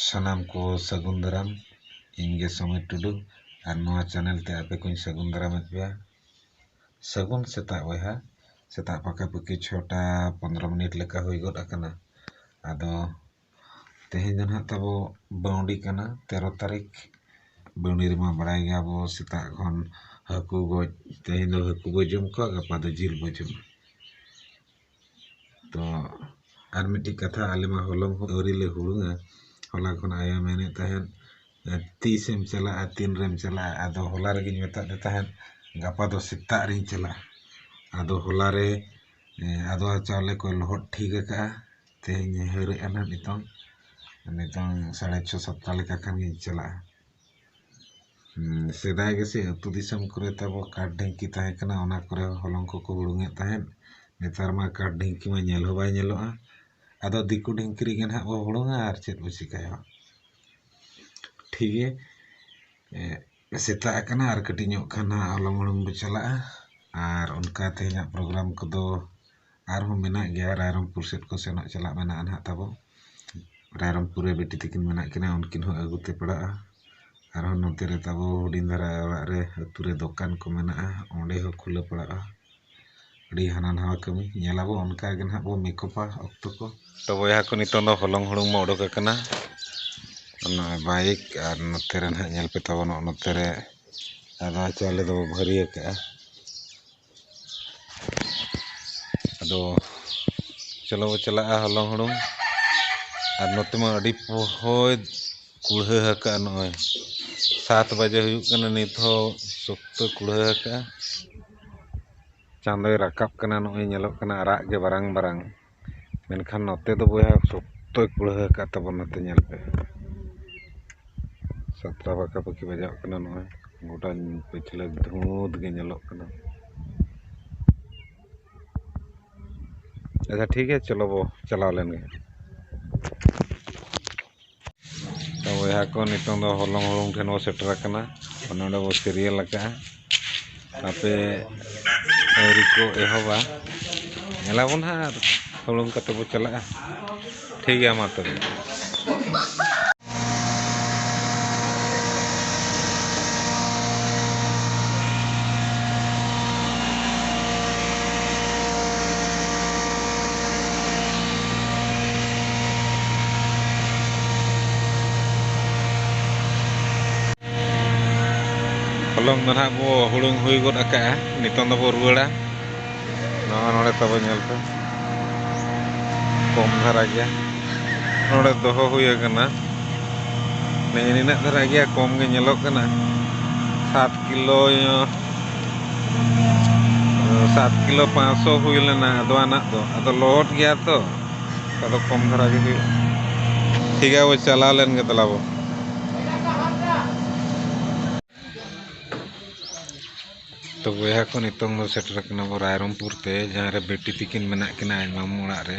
ᱥᱟᱱᱟᱢ ᱠᱚ ᱥᱟᱹᱜᱩᱱ ᱫᱟᱨᱟᱢ ᱤᱧ ᱜᱮ ᱥᱚᱢᱤᱨ ᱴᱩᱰᱩ ᱟᱨ ᱱᱚᱣᱟ ᱪᱮᱱᱮᱞ ᱛᱮ ᱟᱯᱮ ᱠᱚᱧ ᱥᱟᱹᱜᱩᱱ ᱫᱟᱨᱟᱢ ᱮᱫ ᱯᱮᱭᱟ ᱥᱟᱹᱜᱩᱱ ᱥᱮᱛᱟᱜ ᱵᱚᱭᱦᱟ ᱥᱮᱛᱟᱜ ᱯᱟᱠᱟ ᱯᱟᱠᱤ ᱪᱷᱚᱴᱟ ᱯᱚᱱᱨᱚ ᱢᱤᱱᱤᱴ ᱞᱮᱠᱟ ᱦᱩᱭ ᱜᱚᱫ ᱟᱠᱟᱱᱟ ᱟᱫᱚ ᱛᱮᱦᱮᱧ ᱫᱚ ᱱᱟᱦᱟᱜ ᱛᱟᱵᱚ ᱵᱟᱹᱣᱰᱤ ᱠᱟᱱᱟ ᱛᱮᱨᱚ ᱛᱟᱹᱨᱤᱠᱷ ᱵᱟᱹᱣᱰᱤ ᱨᱮᱢᱟ ᱵᱟᱲᱟᱭ ᱜᱮᱭᱟ ᱵᱚ ᱥᱮᱛᱟᱜ ᱠᱷᱚᱱ ᱦᱟᱹᱠᱩ ᱜᱚᱡ ᱛᱮᱦᱮᱧ ᱫᱚ ᱦᱟᱹᱠᱩ ᱵᱚ ᱡᱚᱢ ᱠᱚᱣᱟ ᱜᱟᱯᱟ ᱫᱚ ᱡᱤᱞ ᱵᱚ ᱡᱚᱢᱟ ᱛᱚ ᱟᱨ ᱢᱤᱫᱴᱤᱡ ᱠᱟᱛᱷᱟ ᱟᱞᱮ ᱢᱟ ᱦᱚᱞᱚᱝ ᱦᱚᱸ ᱟᱹᱣᱨᱤ ᱞᱮ ᱦᱩᱲᱩᱝᱟ ᱦᱚᱞᱟ ᱠᱷᱚᱱ ᱟᱭᱳᱭ ᱢᱮᱱᱮᱫ ᱛᱟᱦᱮᱸᱫ ᱛᱤᱥᱮᱢ ᱪᱟᱞᱟᱜᱼᱟ ᱛᱤᱱ ᱨᱮᱢ ᱪᱟᱞᱟᱜᱼᱟ ᱟᱫᱚ ᱦᱚᱞᱟ ᱨᱮᱜᱮᱧ ᱢᱮᱛᱟᱫᱮ ᱛᱟᱦᱮᱸᱫ ᱜᱟᱯᱟ ᱫᱚ ᱥᱮᱛᱟᱜ ᱨᱤᱧ ᱪᱟᱞᱟᱜᱼᱟ ᱟᱫᱚ ᱦᱚᱞᱟ ᱨᱮ ᱟᱫᱚᱣᱟ ᱪᱟᱣᱞᱮ ᱠᱚᱭ ᱞᱚᱦᱚᱫ ᱴᱷᱤᱠ ᱟᱠᱟᱫᱼᱟ ᱛᱮᱦᱮᱧ ᱮ ᱦᱟᱹᱨ ᱮᱫᱼᱟ ᱦᱟᱸᱜ ᱱᱤᱛᱚᱝ ᱱᱤᱛᱚᱝ ᱥᱟᱲᱮ ᱪᱷᱚ ᱥᱟᱛᱴᱟ ᱞᱮᱠᱟ ᱠᱷᱟᱱ ᱜᱤᱧ ᱪᱟᱞᱟᱜᱼᱟ ᱥᱮᱫᱟᱭ ᱜᱮᱥᱮ ᱟᱹᱛᱩ ᱫᱤᱥᱚᱢ ᱠᱚᱨᱮ ᱛᱟᱵᱚ ᱠᱟᱴ ᱰᱷᱤᱝᱠᱤ ᱛᱟᱦᱮᱸ ᱠᱟᱱᱟ ᱚᱱᱟ ᱠᱚᱨᱮ ᱦᱚᱞᱚᱝ ᱠᱚᱠᱚ ᱦᱩᱲᱩᱝ ᱮᱫ ᱛᱟᱦᱮᱸᱫ ᱱᱮᱛᱟᱨ ᱢᱟ ᱠᱟᱴ ᱰᱷᱤᱝᱠᱤ ᱢᱟ ᱧᱮᱞ ᱦᱚᱸ ᱵᱟᱭ ᱧᱮᱞᱚᱜᱼᱟ ᱟᱫᱚ ᱫᱤᱠᱩ ᱰᱷᱤᱝᱠᱤ ᱨᱮᱜᱮ ᱦᱟᱸᱜ ᱵᱚ ᱦᱩᱲᱩᱝᱟ ᱟᱨ ᱪᱮᱫ ᱵᱚ ᱪᱤᱠᱟᱹᱭᱟ ᱴᱷᱤᱠ ᱜᱮᱭᱟ ᱥᱮᱛᱟᱜ ᱟᱠᱟᱱᱟ ᱟᱨ ᱠᱟᱹᱴᱤᱡ ᱧᱚᱜ ᱠᱷᱟᱱ ᱦᱟᱸᱜ ᱦᱚᱞᱚᱝ ᱦᱩᱲᱩᱝ ᱵᱚ ᱪᱟᱞᱟᱜᱼᱟ ᱟᱨ ᱚᱱᱠᱟ ᱛᱮᱦᱮᱧᱟᱜ ᱯᱨᱳᱜᱨᱟᱢ ᱠᱚᱫᱚ ᱟᱨᱦᱚᱸ ᱢᱮᱱᱟᱜ ᱜᱮᱭᱟ ᱨᱟᱭᱨᱚᱝᱯᱩᱨ ᱥᱮᱫ ᱠᱚ ᱥᱮᱱᱚᱜ ᱪᱟᱞᱟᱜ ᱢᱮᱱᱟᱜᱼᱟ ᱱᱟᱦᱟᱜ ᱛᱟᱵᱚ ᱨᱟᱭᱨᱚᱝᱯᱩᱨ ᱨᱮ ᱵᱤᱴᱤ ᱛᱟᱹᱠᱤᱱ ᱢᱮᱱᱟᱜ ᱠᱤᱱᱟ ᱩᱱᱠᱤᱱ ᱦᱚᱸ ᱟᱹᱜᱩ ᱛᱮ ᱯᱟᱲᱟᱜᱼᱟ ᱟᱨᱦᱚᱸ ᱱᱚᱛᱮ ᱨᱮ ᱛᱟᱵᱚ ᱦᱩᱰᱤᱧ ᱫᱷᱟᱨᱟ ᱚᱲᱟᱜ ᱨᱮ ᱟᱹᱛᱩ ᱨᱮ ᱫᱚᱠᱟᱱ ᱠᱚ ᱢᱮᱱᱟᱜᱼᱟ ᱚᱸᱰᱮ ᱦᱚᱸ ᱠᱷᱩᱞᱟᱹᱣ ᱯᱟᱲᱟᱜᱼᱟ ᱟᱹᱰᱤ ᱦᱟᱱᱟ ᱱᱟᱣᱟ ᱠᱟᱹᱢᱤ ᱧᱮᱞ ᱟᱵᱚ ᱚᱱᱠᱟ ᱜᱮ ᱱᱟᱦᱟᱜ ᱵᱚ ᱢᱮᱠᱚᱯᱟ ᱚᱠᱛᱚ ᱠᱚ ᱛᱚ ᱵᱚᱭᱦᱟ ᱠᱚ ᱱᱤᱛᱚᱝ ᱫᱚ ᱦᱚᱞᱚᱝ ᱦᱩᱲᱩᱝ ᱢᱟ ᱚᱰᱚᱠ ᱟᱠᱟᱱᱟ ᱚᱱᱟ ᱵᱟᱭᱤᱠ ᱟᱨ ᱱᱚᱛᱮ ᱨᱮ ᱱᱟᱦᱟᱜ ᱧᱮᱞ ᱯᱮ ᱛᱟᱵᱚ ᱱᱚᱜᱼᱚᱸᱭ ᱱᱚᱛᱮ ᱨᱮ ᱟᱫᱽᱣᱟ ᱪᱟᱣᱞᱮ ᱫᱚᱵᱚ ᱵᱷᱟᱹᱨᱤ ᱟᱠᱟᱜᱼᱟ ᱟᱫᱚ ᱪᱚᱞᱚ ᱵᱚᱱ ᱪᱟᱞᱟᱜᱼᱟ ᱦᱚᱞᱚᱝ ᱦᱩᱲᱩᱝ ᱟᱨ ᱱᱚᱛᱮ ᱢᱟ ᱟᱹᱰᱤ ᱯᱚᱦᱚᱭ ᱠᱩᱲᱦᱟᱹ ᱟᱠᱟᱫᱼᱟ ᱱᱚᱜᱼᱚᱭ ᱥᱟᱛ ᱵᱟᱡᱮ ᱦᱩᱭᱩᱜ ᱠᱟᱱᱟ ᱱᱤᱛ ᱦᱚᱸ ᱥᱚᱠᱛᱚ ᱠᱩᱲᱦᱟᱹ ᱟᱠᱟᱫᱼᱟ ᱪᱟᱸᱫᱚᱭ ᱨᱟᱠᱟᱵ ᱠᱟᱱᱟ ᱱᱚᱜᱼᱚᱭ ᱧᱮᱞᱚᱜ ᱠᱟᱱᱟ ᱟᱨᱟᱜ ᱜᱮ ᱵᱟᱨᱟᱝ ᱵᱟᱨᱟᱝ ᱢᱮᱱᱠᱷᱟᱱ ᱱᱚᱛᱮ ᱫᱚ ᱵᱚᱭᱦᱟ ᱥᱚᱠᱛᱚᱭ ᱠᱩᱲᱦᱟᱹ ᱟᱠᱟᱫ ᱛᱟᱵᱚᱱᱟ ᱱᱚᱛᱮ ᱧᱮᱞ ᱯᱮ ᱥᱟᱛᱴᱟ ᱯᱟᱠᱟ ᱯᱟᱠᱤ ᱵᱟᱡᱟᱜ ᱠᱟᱱᱟ ᱱᱚᱜᱼᱚᱭ ᱜᱚᱴᱟ ᱯᱟᱹᱪᱷᱞᱟᱹ ᱫᱷᱩᱸᱛ ᱜᱮ ᱧᱮᱞᱚᱜ ᱠᱟᱱᱟ ᱟᱪᱪᱷᱟ ᱴᱷᱤᱠ ᱜᱮᱭᱟ ᱪᱚᱞᱚ ᱵᱚ ᱪᱟᱞᱟᱣ ᱞᱮᱱ ᱜᱮ ᱵᱚᱭᱦᱟ ᱠᱚ ᱱᱤᱛᱚᱝ ᱫᱚ ᱦᱚᱞᱚᱝ ᱦᱩᱲᱩᱝ ᱴᱷᱮᱱ ᱵᱚᱱ ᱥᱮᱴᱮᱨ ᱟᱠᱟᱱᱟ ᱱᱚᱰᱮ ᱵᱚᱱ ᱥᱤᱨᱤᱭᱟᱞ ᱟᱠᱟᱫᱼᱟ ᱟᱯᱮ ᱟᱹᱣᱨᱤ ᱠᱚ ᱮᱦᱚᱵᱟ ᱧᱮᱞ ᱟᱵᱚᱱ ᱦᱟᱸᱜ ᱟᱨ ᱦᱩᱲᱩᱝ ᱠᱟᱛᱮ ᱵᱚᱱ ᱪᱟᱞᱟᱜᱼᱟ ᱴᱷᱤᱠ ᱜᱮᱭᱟ ᱢᱟ ᱛᱚᱵᱮ ᱦᱚᱞᱚᱝ ᱫᱚ ᱱᱟᱦᱟᱜ ᱵᱚ ᱦᱩᱲᱩᱝ ᱦᱩᱭ ᱜᱚᱫ ᱟᱠᱟᱜᱼᱟ ᱱᱤᱛᱚᱝ ᱫᱚᱵᱚ ᱨᱩᱣᱟᱹᱲᱟ ᱱᱚᱣᱟ ᱱᱚᱰᱮ ᱛᱟᱵᱚ ᱧᱮᱞ ᱯᱮ ᱠᱚᱢ ᱫᱷᱟᱨᱟ ᱜᱮᱭᱟ ᱱᱚᱰᱮ ᱫᱚᱦᱚ ᱦᱩᱭ ᱟᱠᱟᱱᱟ ᱱᱤᱱᱟᱹᱜ ᱫᱷᱟᱨᱟ ᱜᱮᱭᱟ ᱠᱚᱢ ᱜᱮ ᱧᱮᱞᱚᱜ ᱠᱟᱱᱟ ᱥᱟᱛ ᱠᱤᱞᱳ ᱥᱟᱛ ᱠᱤᱞᱳ ᱯᱟᱸᱪᱥᱚ ᱦᱩᱭ ᱞᱮᱱᱟ ᱟᱫᱚᱣᱟᱱᱟᱜ ᱫᱚ ᱟᱫᱚ ᱞᱚᱦᱚᱫ ᱜᱮᱭᱟ ᱛᱚ ᱟᱫᱚ ᱠᱚᱢ ᱫᱷᱟᱨᱟ ᱜᱮ ᱦᱩᱭᱩᱜᱼᱟ ᱴᱷᱤᱠ ᱜᱮᱭᱟ ᱵᱚ ᱪᱟᱞᱟᱣ ᱞᱮᱱ ᱜᱮ ᱛᱟᱞᱟ ᱵᱚ ᱛᱚ ᱵᱚᱭᱦᱟ ᱠᱚ ᱱᱤᱛᱚᱝ ᱫᱚ ᱥᱮᱴᱮᱨ ᱠᱟᱱᱟ ᱵᱚ ᱨᱟᱭᱨᱚᱝᱯᱩᱨ ᱛᱮ ᱡᱟᱦᱟᱸ ᱨᱮ ᱵᱤᱴᱤ ᱛᱟᱹᱠᱤᱱ ᱢᱮᱱᱟᱜ ᱠᱤᱱᱟ ᱟᱡ ᱢᱟᱢᱚ ᱚᱲᱟᱜ ᱨᱮ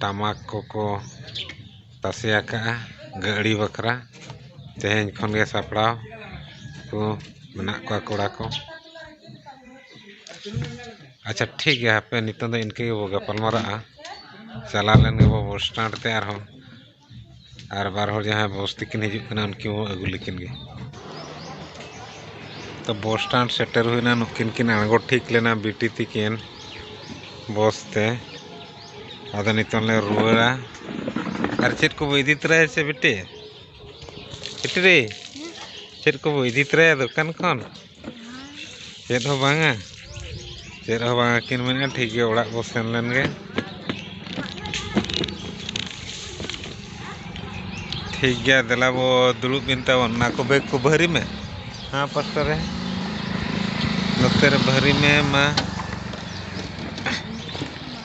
ᱴᱟᱢᱟᱠ ᱠᱚᱠᱚ ᱛᱟᱥᱮ ᱟᱠᱟᱫᱼᱟ ᱜᱟᱹᱲᱤ ᱵᱟᱠᱷᱨᱟ ᱛᱮᱦᱮᱧ ᱠᱷᱚᱱ ᱜᱮ ᱥᱟᱯᱲᱟᱣ ᱠᱚ ᱢᱮᱱᱟᱜ ᱠᱚᱣᱟ ᱠᱚᱲᱟ ᱠᱚ ᱟᱪᱪᱷᱟ ᱴᱷᱤᱠ ᱜᱮᱭᱟ ᱦᱟᱯᱮ ᱱᱤᱛᱚᱜ ᱫᱚ ᱤᱱᱠᱟᱹ ᱜᱮᱵᱚᱱ ᱜᱟᱯᱟᱞ ᱢᱟᱨᱟᱜᱼᱟ ᱪᱟᱞᱟᱣ ᱞᱮᱱ ᱜᱮᱵᱚᱱ ᱵᱚᱥ ᱥᱴᱮᱱᱰ ᱛᱮ ᱟᱨᱦᱚᱸ ᱟᱨ ᱵᱟᱨ ᱦᱚᱲ ᱡᱟᱦᱟᱸᱭ ᱵᱚᱥ ᱛᱮᱠᱤᱱ ᱦᱤᱡᱩᱜ ᱠᱟᱱᱟ ᱩᱱᱠᱤᱱ ᱦᱚᱸ ᱟᱹᱜᱩ ᱞᱮᱠᱤᱱ ᱜᱮ ᱛᱚ ᱵᱚᱥ ᱥᱴᱮᱱᱰ ᱥᱮᱴᱮᱨ ᱦᱩᱭᱱᱟ ᱱᱩᱠᱤᱱ ᱠᱤᱱ ᱟᱬᱜᱚ ᱴᱷᱤᱠ ᱞᱮᱱᱟ ᱵᱤᱴᱤ ᱛᱤᱠᱤᱱ ᱵᱚᱥ ᱛᱮ ᱟᱫᱚ ᱱᱤᱛᱚᱝ ᱞᱮ ᱨᱩᱣᱟᱹᱲᱟ ᱟᱨ ᱪᱮᱫ ᱠᱚᱵᱚ ᱤᱫᱤ ᱛᱚᱨᱟᱭᱟ ᱥᱮ ᱵᱤᱴᱤ ᱵᱤᱴᱤ ᱨᱮ ᱪᱮᱫ ᱠᱚᱵᱚ ᱤᱫᱤ ᱛᱚᱨᱟᱭᱟ ᱫᱚᱠᱟᱱ ᱠᱷᱚᱱ ᱪᱮᱫ ᱦᱚᱸ ᱵᱟᱝᱟ ᱪᱮᱫ ᱦᱚᱸ ᱵᱟᱝᱟ ᱠᱤᱱ ᱢᱮᱱᱮᱫᱼᱟ ᱴᱷᱤᱠ ᱜᱮᱭᱟ ᱚᱲᱟᱜ ᱵᱚ ᱥᱮᱱ ᱞᱮᱱ ᱜᱮ ᱴᱷᱤᱠ ᱜᱮᱭᱟ ᱫᱮᱞᱟ ᱵᱚ ᱫᱩᱲᱩᱵ ᱵᱤᱱ ᱛᱟᱵᱚᱱ ᱚᱱᱟ ᱠᱚ ᱵᱮᱜᱽ ᱠᱚ ᱵᱷᱟᱹᱨᱤ ᱢᱮ ᱦᱮᱸ ᱯᱟᱥᱴᱟ ᱨᱮ ᱱᱚᱛᱮ ᱨᱮ ᱵᱷᱟᱹᱨᱤ ᱢᱮ ᱢᱟ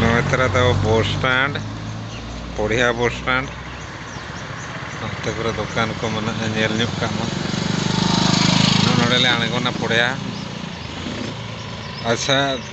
ᱱᱚᱭᱛᱨᱟ ᱫᱚ ᱵᱚᱥ ᱥᱴᱮᱱᱰ ᱯᱚᱲᱤᱦᱟ ᱵᱚᱥ ᱥᱴᱮᱱᱰ ᱱᱚᱛᱮ ᱠᱚᱨᱮ ᱫᱚᱠᱟᱱ ᱠᱚ ᱢᱮᱱᱟᱜᱼᱟ ᱧᱮᱞ ᱧᱚᱜ ᱠᱟᱜ ᱢᱟ ᱱᱚᱰᱮᱞᱮ ᱟᱬᱜᱚᱱᱟ ᱯᱚᱲᱤᱦᱟ ᱟᱪᱪᱷᱟ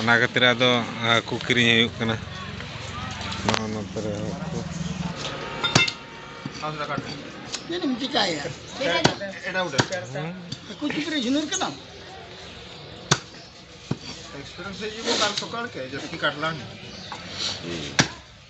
ᱚᱱᱟ ᱠᱷᱟᱹᱛᱤᱨ ᱟᱫᱚ ᱦᱟᱹᱠᱩ ᱠᱤᱨᱤᱧ ᱦᱩᱭᱩᱜ ᱠᱟᱱᱟ ᱱᱚᱣᱟ ᱱᱚᱛᱮ ᱨᱮ ᱦᱟᱹᱠᱩ ᱪᱮᱫ ᱮᱢ ᱪᱤᱠᱟᱭᱟ ᱦᱟᱹᱠᱩ ᱪᱩᱯᱤ ᱨᱮ ᱡᱷᱩᱱᱩᱨ ᱠᱟᱱᱟᱢ ᱮᱠᱥᱯᱨᱤᱭᱮᱱᱥ ᱦᱤᱡᱩᱜ ᱠᱟᱞ ᱥᱚᱠᱟᱞ ᱠᱮ ᱡᱟᱹᱥᱛᱤ ᱠᱟᱴᱞᱟᱝ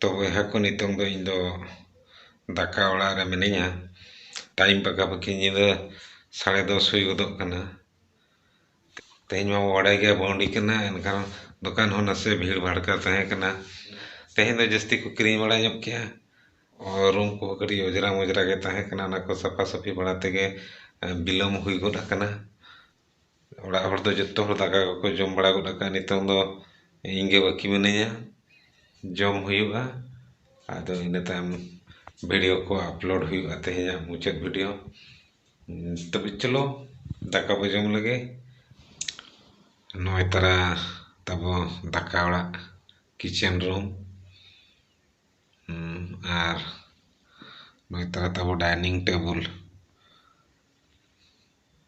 ᱛᱚ ᱵᱚᱭᱦᱟ ᱠᱚ ᱱᱤᱛᱚᱝ ᱫᱚ ᱤᱧ ᱫᱚ ᱫᱟᱠᱟ ᱚᱲᱟᱜ ᱨᱮ ᱢᱤᱱᱟᱹᱧᱟ ᱴᱟᱭᱤᱢ ᱯᱟᱠᱟ ᱯᱟᱠᱤ ᱧᱤᱫᱟᱹ ᱥᱟᱲᱮ ᱫᱚᱥ ᱦᱩᱭ ᱜᱚᱫᱚᱜ ᱠᱟᱱᱟ ᱛᱮᱦᱮᱧ ᱢᱟᱵᱚ ᱵᱟᱲᱟᱭ ᱜᱮᱭᱟ ᱵᱟᱹᱣᱰᱤ ᱠᱟᱱᱟ ᱮᱱᱠᱷᱟᱱ ᱫᱚᱠᱟᱱ ᱦᱚᱸ ᱱᱟᱥᱮ ᱵᱷᱤᱲ ᱵᱷᱟᱲᱠᱟ ᱛᱟᱦᱮᱸ ᱠᱟᱱᱟ ᱛᱮᱦᱮᱧ ᱫᱚ ᱡᱟᱹᱥᱛᱤ ᱠᱚ ᱠᱤᱨᱤᱧ ᱵᱟᱲᱟ ᱧᱚᱜ ᱠᱮᱜᱼᱟ ᱟᱨ ᱨᱩᱢ ᱠᱚᱦᱚᱸ ᱠᱟᱹᱴᱤᱡ ᱚᱸᱡᱽᱨᱟ ᱢᱚᱡᱽᱨᱟ ᱜᱮ ᱛᱟᱦᱮᱸ ᱠᱟᱱᱟ ᱚᱱᱟ ᱠᱚ ᱥᱟᱯᱷᱟ ᱥᱟᱹᱯᱷᱤ ᱵᱟᱲᱟ ᱛᱮᱜᱮ ᱵᱤᱞᱚᱢ ᱦᱩᱭ ᱜᱚᱫ ᱟᱠᱟᱱᱟ ᱚᱲᱟᱜ ᱦᱚᱲ ᱫᱚ ᱡᱚᱛᱚ ᱦᱚᱲ ᱫᱟᱠᱟ ᱠᱚᱠᱚ ᱡᱚᱢ ᱵᱟᱲᱟ ᱜᱚᱫ ᱠᱟᱜᱼᱟ ᱱᱤᱛᱚᱝ ᱫᱚ ᱤᱧ ᱜᱮ ᱵᱟᱹᱠᱤ ᱢᱤᱱᱟᱹᱧᱟ ᱡᱚᱢ ᱦᱩᱭᱩᱜᱼᱟ ᱟᱫᱚ ᱤᱱᱟᱹ ᱛᱟᱭᱚᱢ ᱵᱷᱤᱰᱤᱭᱳ ᱠᱚ ᱟᱯᱞᱳᱰ ᱦᱩᱭᱩᱜᱼᱟ ᱛᱮᱦᱮᱧᱟᱜ ᱢᱩᱪᱟᱹᱫ ᱵᱷᱤᱰᱤᱭᱳ ᱛᱚᱵᱮ ᱪᱚᱞᱚ ᱫᱟᱠᱟ ᱵᱚᱱ ᱡᱚᱢ ᱞᱮᱜᱮ ᱱᱚᱜᱼᱚᱭ ᱛᱚᱨᱟ ᱛᱟᱵᱚ ᱫᱟᱠᱟ ᱚᱲᱟᱜ ᱠᱤᱪᱮᱱ ᱨᱩᱢ ᱟᱨ ᱱᱚᱜᱼᱚᱭ ᱛᱚᱨᱟ ᱛᱟᱵᱚ ᱰᱟᱭᱱᱤᱝ ᱴᱮᱵᱤᱞ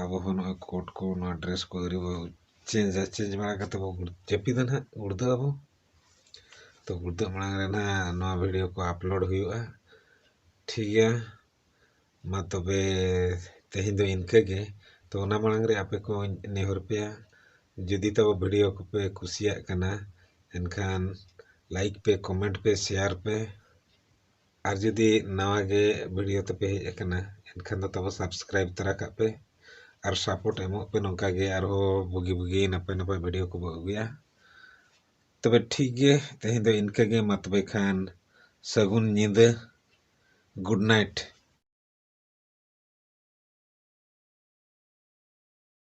ᱟᱵᱚ ᱦᱚᱸ ᱱᱚᱜᱼᱚᱭ ᱠᱳᱴ ᱠᱚ ᱱᱚᱣᱟ ᱰᱨᱮᱥ ᱠᱚ ᱟᱹᱣᱨᱤ ᱵᱚ ᱪᱮᱧᱡᱟ ᱪᱮᱧᱡᱽ ᱵᱟᱲᱟ ᱠᱟᱛᱮ ᱵᱚ ᱡᱟᱹᱯᱤᱫᱟ ᱱᱟᱜ ᱜᱩᱲᱫᱟᱹᱜ ᱟᱵᱚ ᱛᱚ ᱜᱩᱲᱫᱟᱹᱜ ᱢᱟᱲᱟᱝ ᱨᱮ ᱱᱟᱜ ᱱᱚᱣᱟ ᱵᱷᱤᱰᱤᱭᱳ ᱠᱚ ᱟᱯᱞᱳᱰ ᱦᱩᱭᱩᱜᱼᱟ ᱴᱷᱤᱠ ᱜᱮᱭᱟ ᱢᱟ ᱛᱚᱵᱮ ᱛᱮᱦᱮᱧ ᱫᱚ ᱤᱱᱠᱟᱹ ᱜᱮ ᱛᱚ ᱚᱱᱟ ᱢᱟᱲᱟᱝ ᱨᱮ ᱟᱯᱮ ᱠᱚᱧ ᱱᱮᱦᱚᱨ ᱯᱮᱭᱟ ᱡᱩᱫᱤ ᱛᱟᱵᱚ ᱵᱷᱤᱰᱤᱭᱳ ᱠᱚᱯᱮ ᱠᱩᱥᱤᱭᱟᱜ ᱠᱟᱱᱟ ᱮᱱᱠᱷᱟᱱ ᱞᱟᱭᱤᱠ ᱯᱮ ᱠᱚᱢᱮᱱᱴ ᱯᱮ ᱥᱮᱭᱟᱨ ᱯᱮ ᱟᱨ ᱡᱩᱫᱤ ᱱᱟᱣᱟ ᱜᱮ ᱵᱷᱤᱰᱤᱭᱳ ᱛᱟᱯᱮ ᱦᱮᱡ ᱟᱠᱟᱱᱟ ᱮᱱᱠᱷᱟᱱ ᱫᱚ ᱛᱟᱵᱚ ᱥᱟᱵᱥᱠᱨᱟᱭᱤᱵᱽ ᱛᱚᱨᱟ ᱠᱟᱜ ᱯᱮ ᱟᱨ ᱥᱟᱯᱳᱨᱴ ᱮᱢᱚᱜ ᱯᱮ ᱱᱚᱝᱠᱟ ᱜᱮ ᱟᱨᱦᱚᱸ ᱵᱩᱜᱤ ᱵᱩᱜᱤ ᱱᱟᱯᱟᱭ ᱱᱟᱯᱟᱭ ᱵᱷᱤᱰᱤᱭᱳ ᱠᱚᱵᱚ ᱟᱹᱜᱩᱭᱟ ᱛᱚᱵᱮ ᱴᱷᱤᱠ ᱜᱮ ᱛᱮᱦᱮᱧ ᱫᱚ ᱤᱱᱠᱟᱹ ᱜᱮ ᱢᱟ ᱛᱚᱵᱮ ᱠᱷᱟᱱ ᱥᱟᱹᱜᱩᱱ ᱧᱤᱫᱟᱹ ᱜᱩᱰ ᱱᱟᱭᱤᱴ